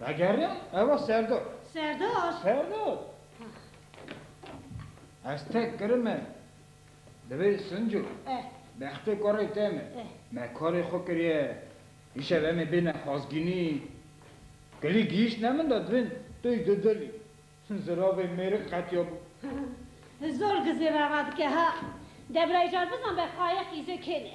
Vegerin eva Serdar. Serdar? Serdar. Ez tek kirim e. Divê Sinco. Eh. Bextê karê te me. Eh. Me karê xwe kiriye. Îşev em ê bêne Xazgînî. Kilî gihîştine min de divên tey di dilî. Ziravê mêrik qetiya bû. Zor gizê reva dike ha. Debraycar bizan be qayeq îzê kêne.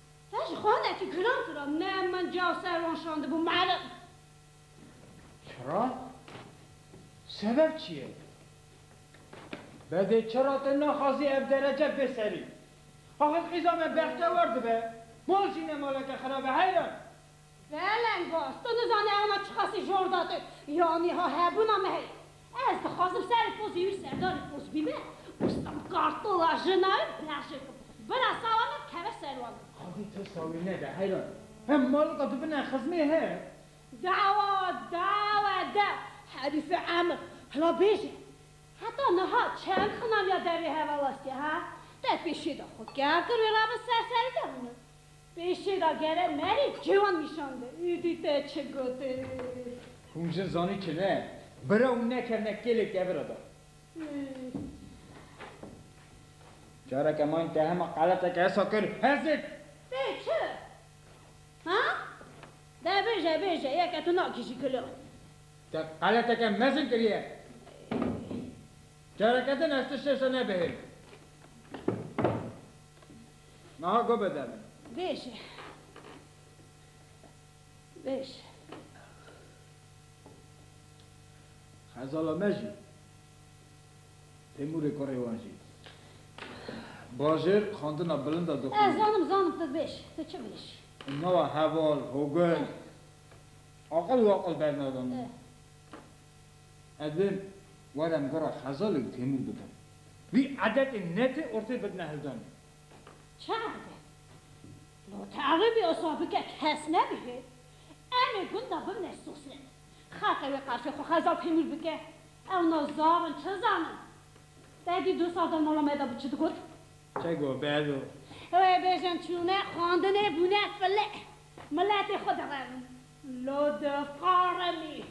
Te ji xanekî kiran kira me min ca ser wan şandibû meriv. Çira? Sebeb çi ye? Bedê çira te naxwazî ev derece bê serî? Axir qîza me bextewer dibe, bal jî ne maleke xerab e heyran! Zelengoz, tu nizanî ewna çiqasî jor date ya nîha hebûna me heye. Ez dixwazim serê pozê wî serdarî poz bîme û sim kartola jina wî berjê kim. Bira sala me dikeve ser wan. Qadî tirsa wî nede heyran. Hem malika tu bine xizmê he. Dawa, dawa, de, Herîfê Emir, hila bêje. Heta niha çend xinamiya dervê heval estiye ha? Te pêşî de xwe kêm kir wê rabin serserî de bîne. Pêşê da gere merê çi wan nîşande û dî te çi gotin? Hûn jin zanî çi ne? Bira hûn nekevne kêlek devira da. Careke mayîn te hema qeleteke hesa kir, hezit! Tê çi? Ha? De bêje bêje yeke tu nakijî kilo. Te qeleteke mezin kiriye. Careke din ez ti şêşe nebihêl. Meha go be deme. Bêje. Bêje. Xezala me jî. Têmûrê kurê wan jî. Bajêr xwendina bilind e dixwîne. Ez zanim, zanim tu bêj. Tu çi bêj. Nawa heval, hogel. Aqil waqil bernadano. Ez ê warem gora Xezalê û Têmûr bikim. Wî edetên netê ortê bidine hildanê. Çi edet? No ti ew ê bi osa bike kes nebihê. Em ê gunda bimne sosyet. Xelqê wê qersê xwe Xezal Têmûr bike. Ewna zaf in çi zanin. Begî du sal de mala me de bû çi digot? Çi got Bedo? Wê bêjin çûne xwendinê bûne file. Miletê xwe direbin. Lo difarimî.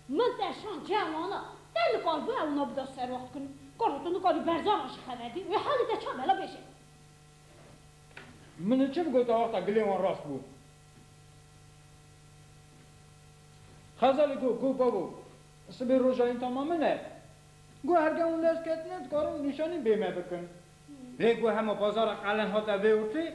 Min te şand çiya wana. Te nikaribû ewna bida serwaxt kin. Karo tu nikarî berzanan jî xeber dî. Wê halê te çabe la bêje. Min çi bigota wexta gilê wan rast bû. Xezalî got, Got babo, sibê roja yîn tama min e. Got her gen û lez ketine dikarin nîşanî bê me bikin. Lê got hema bazaran qelen hate vêwirtî.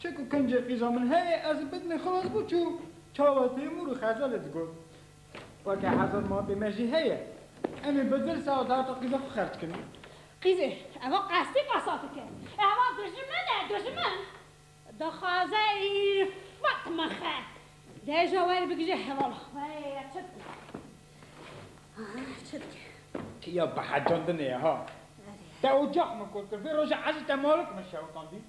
Çek û kincê qîza min heye, ez li bidnê xilas bû çû çawa tê mûr û xezelê digot. Weke hezar matê me jî heye. Em ê bi dirse hat hata qîza xwe xerc kin. Qîzê, eva qesdî qesa dike. Eva dijmin e, dijmin. Dixwaze îrfet mixe. Deja were bigije hevala. Were ya çi dike? Ah çi dike? Ya bihecandine ye ha. Te ocax min kol kir. Vê roja ezî te malik min şewitandî.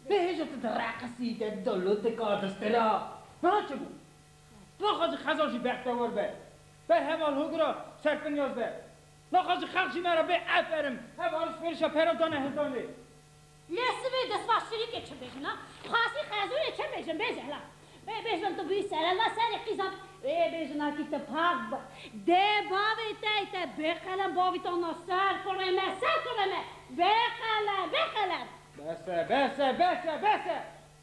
Vê hêja te di reqisî, te di da lotika, di stira. Niha çi bû? Naxwazî xezal jî bextewar be. Ber heval hogira serfinyaz be. Naxwazî xelq jî me re bê eferim. Hev alişverişa pera dane hêzanê. Lê sibê destbaz çirîkê çin bêjin na, xasî xezûrê çin bêjin bê zehla. Bê bêjin tu bî serelva serê qîzan. Bê bêjin a kî tu pak bi. Dê bavê te ê te bê qelem bavî to na ser kurê me, ser kurê me. Bê qelem, bê qelem. Bes e, bes e, bes e, bes e!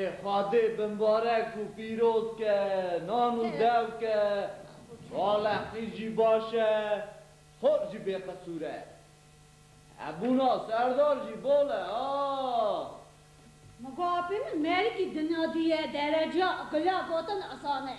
Ê Xwedê binbarek û pîroz ke, nan û dew ke, Salehî jî baş e, Xort jî bêqisûr e. Hebûna serdar jî bol e a. Mugapê min merikî dinadiye dereca gula gotin asan e.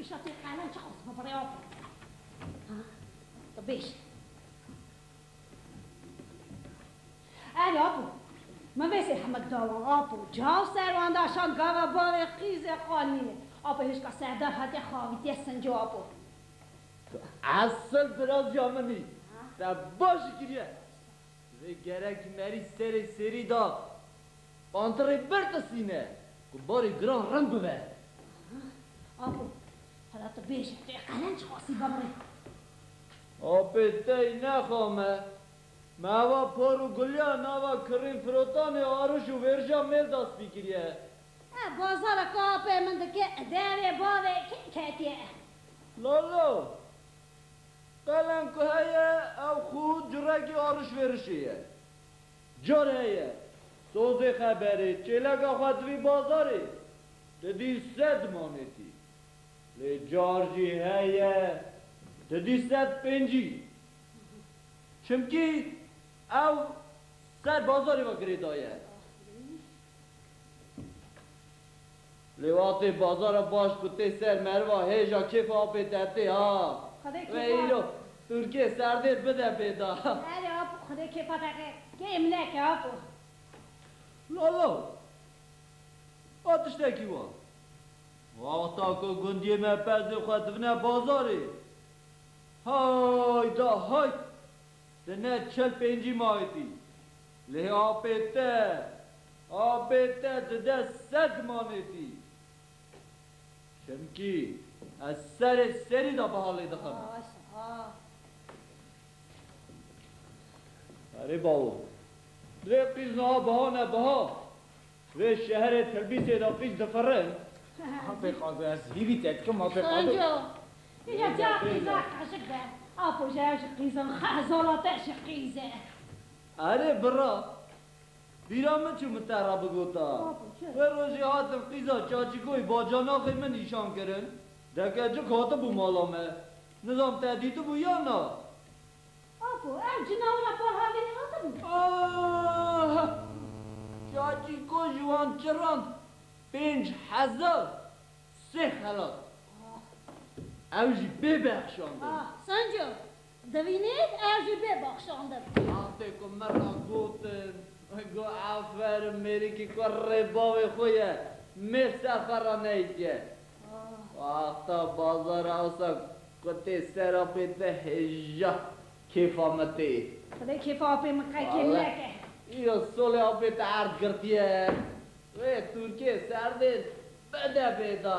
Îşa tê qelan çi qas bi birêwa qas e. Ha tu bêje. Erê Apo, min vê sê hemek da wan. Apo, çav ser wan da şand gava bavê qîzê xanînê. Apo hêşka serdar hatiye xavîtiye sinco Apo. Esil birazya min î. Te baş kiriye. Divê gerek merî serê sêrî da pantirê bir tisîne ku barê giran rind bibe. Apo, hela tu bêje vê qelenc xwesî bimre. Apê tey nexa me. Me ava por û gulya nava kirrîn firotanê arij û vêrja mêl da spî kiriye. E bazara ka apê min dike, e derê bavê kê ketiye e. Lolo, Qelen ku heye ew xwe curekî alişverişê ye. Car heye sazê xeberê çêleka xwe divî bazarê ti dî sed manetî. Lê car jî heye ti dî sed pêncî. Çimkî ew ser bazarê ve girêdaye. Lê watê bazara baş ku tê ser meriva hêja kêfa apê tertê ha. Xwedê Wê kêfa. îro Turkê serdêr bide pê da. Erê apo xwedê kêfa te ke kêm neke apo. Lala! Ba tiştekî wa. Wexta ku gundiyê me perzên xwe dibine bazarê. Hayda hayt! Ti ne çil pêncî mayîtî. Lê apê te. Abê te di dest sed manêtî. Çimkî ez serê serî de biha lê dixim. Erê bawo, lê qîz niha biha ne biha vê şeherê Tirbîtê de qîz difirin. Apê qado ez hîvî te dikim apê qado. Şonjo, îna ca qîza qeşik be, apo jeyan jî qîz in, xeh zolate jî qîz e. Erê bira, Bîra min çû min te re bigota. Wê rojê hatin qîza Çaçîkoyî bacanaxê min nîşan kirin. Dekecik hatibû mala me. Nizam te dîtibû yan na? Apo, ev cina wina par havînê hatibû? Ahh! Çaçîko ji wan çiran pênc hezar sê xelat. Ew jî pê bexşandin. Ahh! Senco, Divînît ez jî bê bexşandim. Astê ku min re gotin, got Aferin mêrikî ku rê bavê xwe ye, mêr ser xwe re neyitiye. Wexta bazar e ewsa ku tê ser apê te hêja kêfa min tê. Xwedê kêfa apê min qekên neke. Îro solê apê te erd girtiye. Wê tûrkê serdê bide bêda.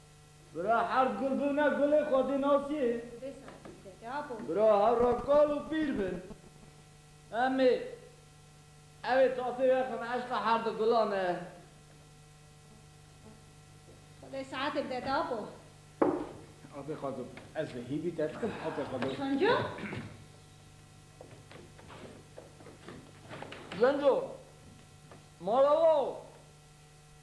Bira her gul bibne gulê xwedî nasî. Bira her re kal û pîr bin. Em ê ew ê tasîr wexin eşqa her di gulan e. Xwedê saetê bide te apo. Apê xwe do. Ez dê hîvî te dikim apê xwe do. Xenco. Xenco. Mala wa o.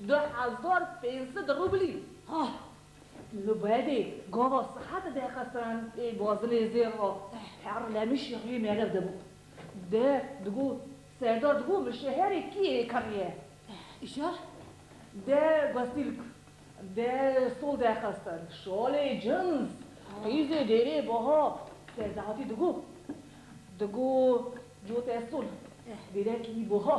Du hezar pênc sed rûblî. Ha! Li Bebê gava sihet de xestiran ê bazinê zêr a. Her lemişî rê merev de bû. De digo Serdar digo min şeherê kî yê kiriye. Îşar? De Gosîlk de sol de xestin. Şalê cins. Qîzê dêrê baha. Serde hatî digo. Digo cote sol. Dêrekî baha.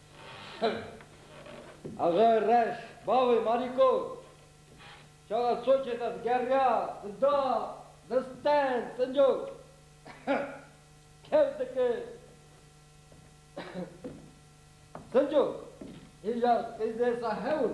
Axe reş, bavê Marîko çawa soçê te digeriya, dida, distend, sinco kew dikir. Sinco, hêja qîzê se hewl.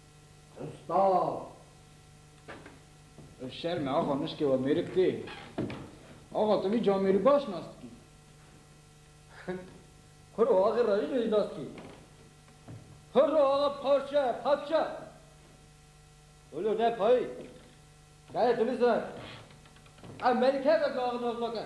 Usta! Ev şerm e axa mişkê we mêrik tê. Axa tu vî camêrî baş nas dikî. Kuro axir ra jî nêjnas dikî. Kuro axa parçe parçe. Ulo ne payî. Keye tu nizan. Ev mêrikeke tu axir nas nake.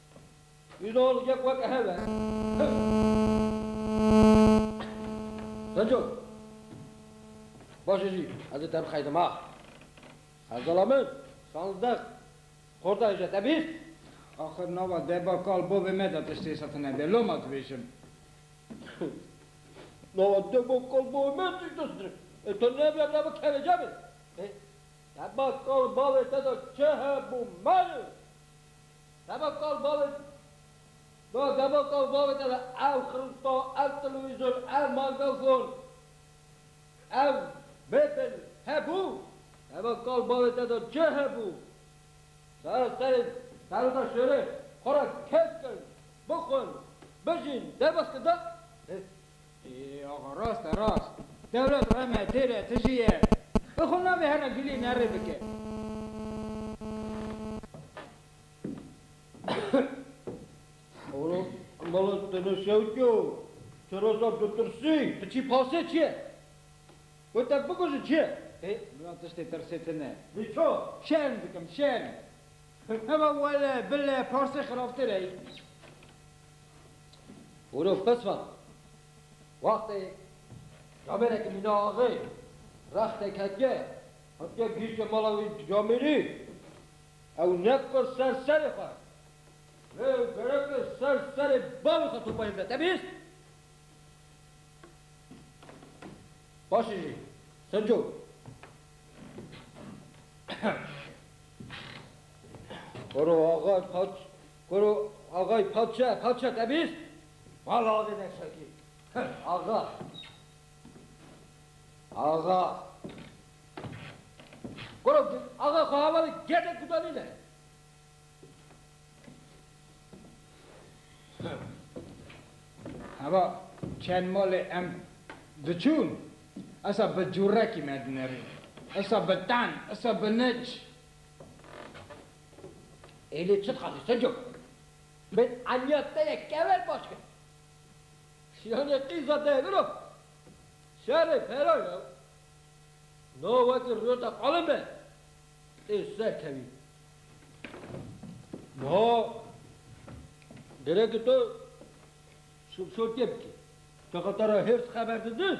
Ünal yek weke hebe. Senco. Baş jî ez ê te bixeydim ha. Hevdala min sanzdeh xorda hêje te bîst. Axir nava deba kal bavê me de tiştê sete nebe loma dibêjim. Nava deba kal bavê me tişt distire ê te nebe te bikeve cebe. Deba kal bavê te de çi hebû mali. Deva kal bavê te Na deva kal bavê te de ev xirûsta, ev telewîzyon, ev magafon, ev mebel hebû? Deva kal bavê te de çi hebû? Sara serê serota şêrê xwe re kesk in, bixwin, bijîn, derbas kir da. Axa rast e rast. Dewlet rem e têr e tijî ye. Bi xwe navê here gilî nerê bike. Olo molo tu no şewtyo tu roza ditirsî tu çî pasê çi ye? Wê te bikujin çi ye? Ê mila tiştê tirsê tine. Lê ço? Şerm dikim şerm. Heva wele bile parsê xirabtir ey. Hûrof qisma, wextê camerekî mîna axê, rextê ketke, hatike gihîştê mala wî camêrî, ew nekir ser serê xwe, lê gereke ser serê bavê xwe topayê bide. Te bîst? Paşê jî, Sinco. Hûro axa, hat. Koro axay paçe paçe te bîst? Vala avê neşekî. Axa. Axa. Koro axa xwe hevalê gedek gudanî ne. Heva çend malê em diçûn esa bi cûrekî me dinerîn. Esa bi ten, esa bi nic. Êlê çi dixwazî Sinco? Bi eniya te ye kever baş kir. Şiyanê qîza te vir o. Şerê fera ya. No wekî rûyeta qalin be. Tê ser kevî. Niha gerek e tu şûrtiyê bikî. Texa te re hêrs xeber didin.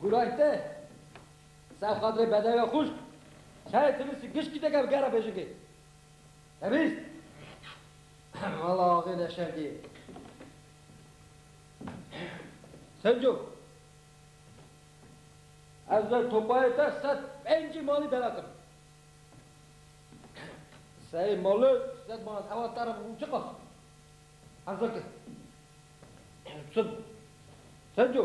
Gurayte, Ser xatirê bedewê xwişk, çayê tilisî gişkî dike bi gera bêjikê. Te bîst? Wala axê ne şer dî. Sinco, ez ver topayê te sed pencî malî bela kirim. Sey mali sed manat hewa te re bû çiqas? Hezir ke. Sinco,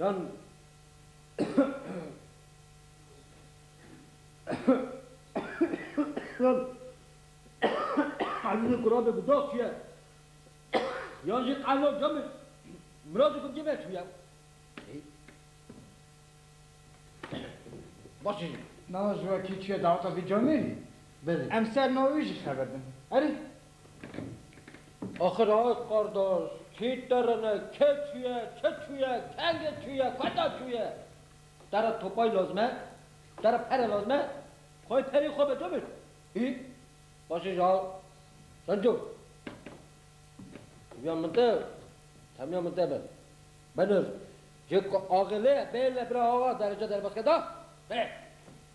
Yan Ezîzê ku rabe guda tûye yan jî qehna came mirazê ku cême tûye ê Baş e jî. Na ji wekî tûye daweta vî camê lê belê. Em ser na wî jî xeber bin. Erê. Axir Ax qardaş, kî terine, kê çûye, çi çûye, kengê çûye, kata çûye? Tere topay lazim e? Tere pere lazim e? Xwayê perê xwe veco bir. Hî? Başê ji Ax Şenco. Temiya min te, temiya min te be. Benir, cê ku axê lê ye bê le bira Axa derece derbas ke da. Bê.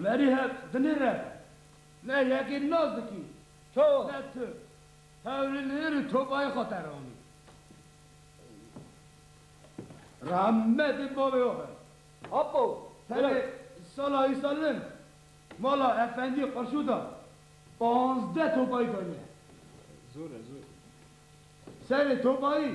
Merî hev dilê re be. Me yekê nazikî to ne tu. Hewrî li ir û to bayê xwe te ranî. Rahmetê bavê oxe. Apo, tenê sala îsal min mala efendî Qirşû da panzdeh to bayî daniye. Zor e, zor. Serê to bayî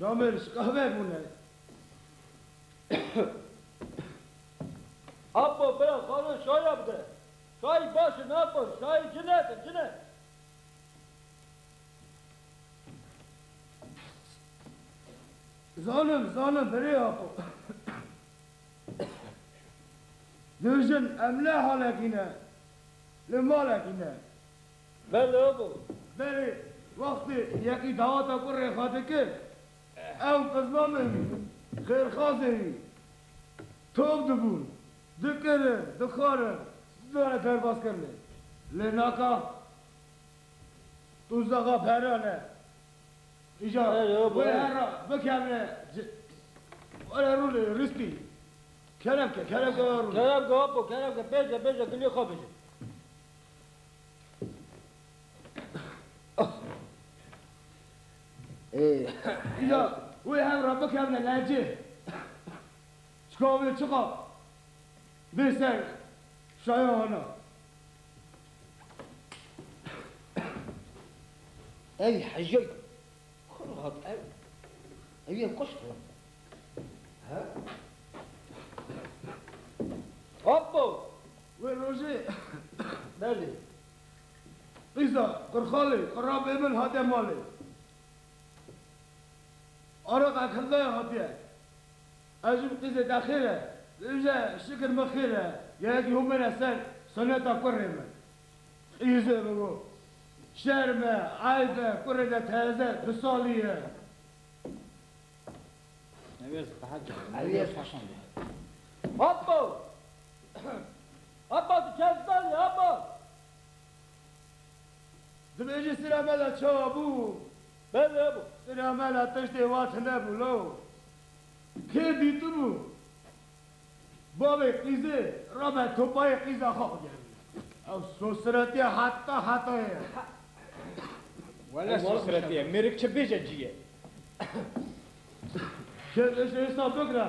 Camê li şikavê bûne. Apo bira xalo şaya bide. Şayî baş e nexwir, şayî cin e te, cin e. Zalim, zalim birê Apo. Du jin em ne halekî ne, li malekî ne. Velo bû. Berê wextê yekî daweta ku rêxa dikir, ew bizmamê wî, xêrxwazê wî top dibûn, dikirin, dixwarin, didane derbazkirinê. Lê naka tûzexa pera ne. Îja wê herra bikevne ci. Were rûnê rîstî. Kerebke, kerebke were rûnê. Kerebke apo, kerebke pêşe pêşe gilê xwe bije. Îca wê hev re bikevne lehcê. Çika wê çiqa vê ser şaya hana. Ey hicey xwe rahat ew ew yê kuşt e. He? Apo! Wê rojê belê qîza Qurxalê Qura Bêbil hate malê. Araq Ekildayê hatiye. Ev jî bi qîzê te xêr e. Bimje şikir min xêr e. Gelekî hûn bêne ser soneta kurê min. Qîzê min got, Şerm e, eyb e, kurê te teze du salî ye. Hop bo! Apa tu kes zanî apa. Dibêjî Siramela çawa bû? Belê bû. Siramela tiştê wan tune bû lo. Kê dîtibû? Bavê qîzê rabe topayê qîza xwe bigerîne. Ew sosretîya heta hetayê ye. Wele sosretîye mêrik çi bêje cî ye. Kes îşê îsta bikire.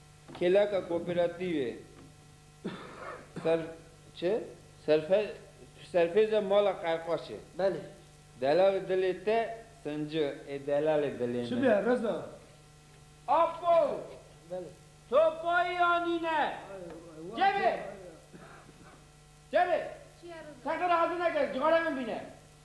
Kêleka kooperatîvê ser çi? Serfe serfêza mala qerxaş e. Belê. Delalê dilê te sinci ê delalê dilê Çi min. be Reza? Apo! Belê. Sopayî anîne. Çêbê! Çêbê! Çi ye Reza? Seqir hazir neke, cixarê min bîne.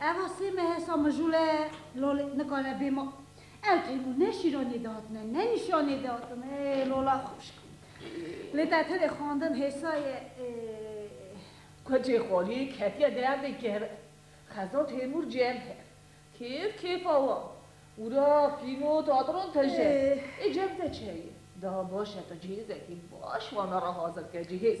Eva sê mehe sa mijûle lolê nikane bê ma. Ew têmû ne şîranê dihatine, ne nîşanê dihatine. Ê lola xweşik. Lê te tenê xwendin hêsa ye. Ê. Kocê Xolî ketiye derdê gerr. Xeza Têmûr cem her. Kêf kêfa wan. Wira fîno tadron te je. Ê cem te çeye. Daha baş e tu cihêzekî baş wana re hazir ke cihêz.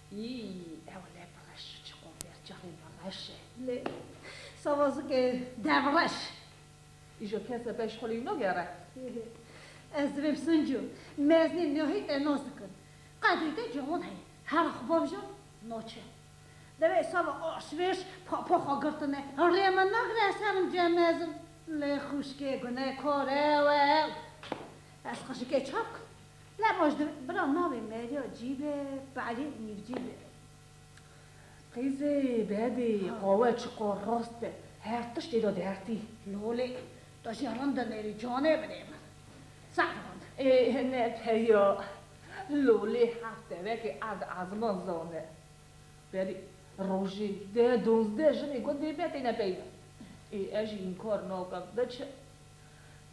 Yî, ewle bi reş çi qo fêr çaxê bi reş e. Lê sava zikê dev reş. Îjo kese beş xulî nogere. Ez divêm Sincu, meznî nehî te nas dikin. Qedrî te cawan heye, hera xwe bamja naçe ye. Divê sava aşvêş papa xwe girtine, rê min nagire ser imcê mezin. Lê xwişkê gunekar ew e. Ez xwişikê çav kirim. Ne roj dibe bira navê Meriya cîbe Pari nîvcî be. Qîzê bebê qawe çiqo rast be her tişt êda dertî. Lolê to jî rind in êrî canê bidê min. Sed rind. Ê ne peya lolê heft devekê erd ezman zane. Berî rojê deh donzdeh jinê gundê be têne pey min. Ê ez jî înkar nakim biçe.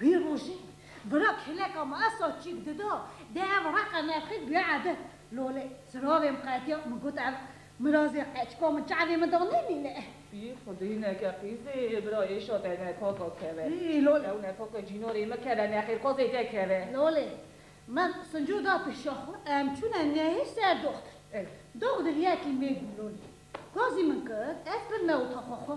Wî rojê bira kêleka me esa çîk dida dê ev reqa navxê bûye ebe. Lolê ziravê min qetiya min got ev mirazê qeçka min çavê min da nemîne. Wî xwedî neke qîz dê bira êşa te nefaka keve. Ew nefaka cînorê min keve nexêrxwazê te keve. Lolê min sinco da pêşa xwe em çûne nehî ser doxtir. Doxtir yekî mêr bû lolê gazî min kir ez pirme û taxa xwe.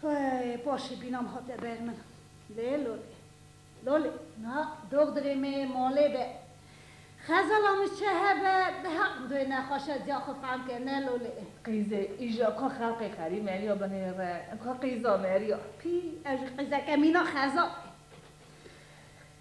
Hey, paşê bînam hate ber min. Lê lolê. Lolê. Na, dox divê me yê malê be. Xezala min çi hebe, bi her rinduyê nexweşe ziya xwe fehm ke, ne lolê. Qîzê, îja ka xelqê xerî meriya bi nê re, ka qîza meriya. Pî, ev jî qîzeke mîna xezalayê.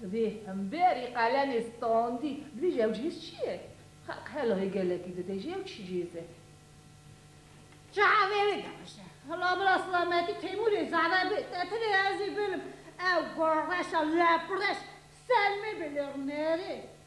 Divê hemberî qalemê standî bibêje ew cihêz çi ye? Xelq helahê gelekî dide jî ew çi cihêz e? Çavê wê daşe. Hila bila silametî Teymûrê zade bê. Te tînê ez ê bilim. Ew gorreşa lepireş Selmê bê lê rûnerê.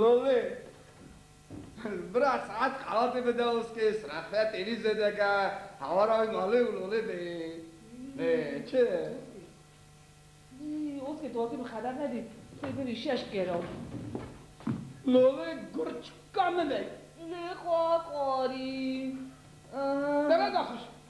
Lolê! Bira saet qelatê bide oskê sirexre têrî zêdeke hewara wî malê û lolê bê. Lê çi? Yî, oskê tu wekî bi xeber nebî sê birî şeş kero. Lolê gur çika min e. Lê xwa xwarî. Te ne daxuş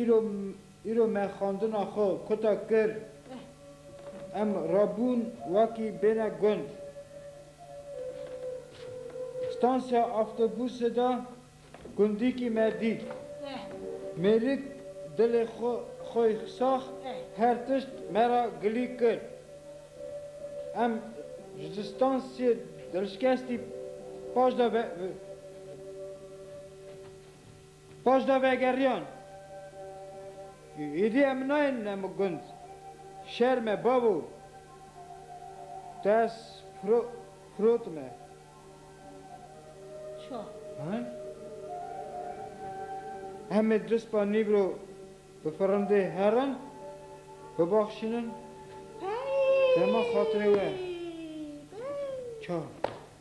Îro îro me xwendina xwe kota kir. Em rabûn wakî bêne gund. Stansiya avtobûsê de gundîkî me dît. Mêrik dilê xwe xwe sax her tişt me ra gilî kir. Em ji stansiyê dilşikestî paş de ve. Paş de vegeriyan. Îdî em nayên ne min gund. Şer me babo. Ders pro prot me. Ço. Heh. Em ê du spa nîbro bi firindê herin, bibaxşînin dema xatirê we. Ço.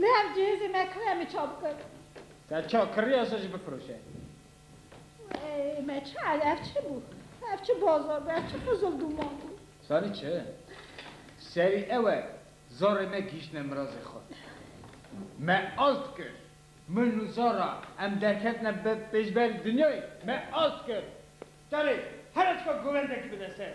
Lê ev cihêzê me kiriya min çav kir. Te çav kiriya se jî bifiroşe. Ey me çi erd ev çi bû? Ev çi bazar bû, ev çi qizilduman bû? Zanî çi? Serî ew e zarê me gihîştine mirazê xwe. Me ast kir. Min û zara em derketine bi pêşberî dinyayê. Me ast kir. Terê here çika govendekî bide ser.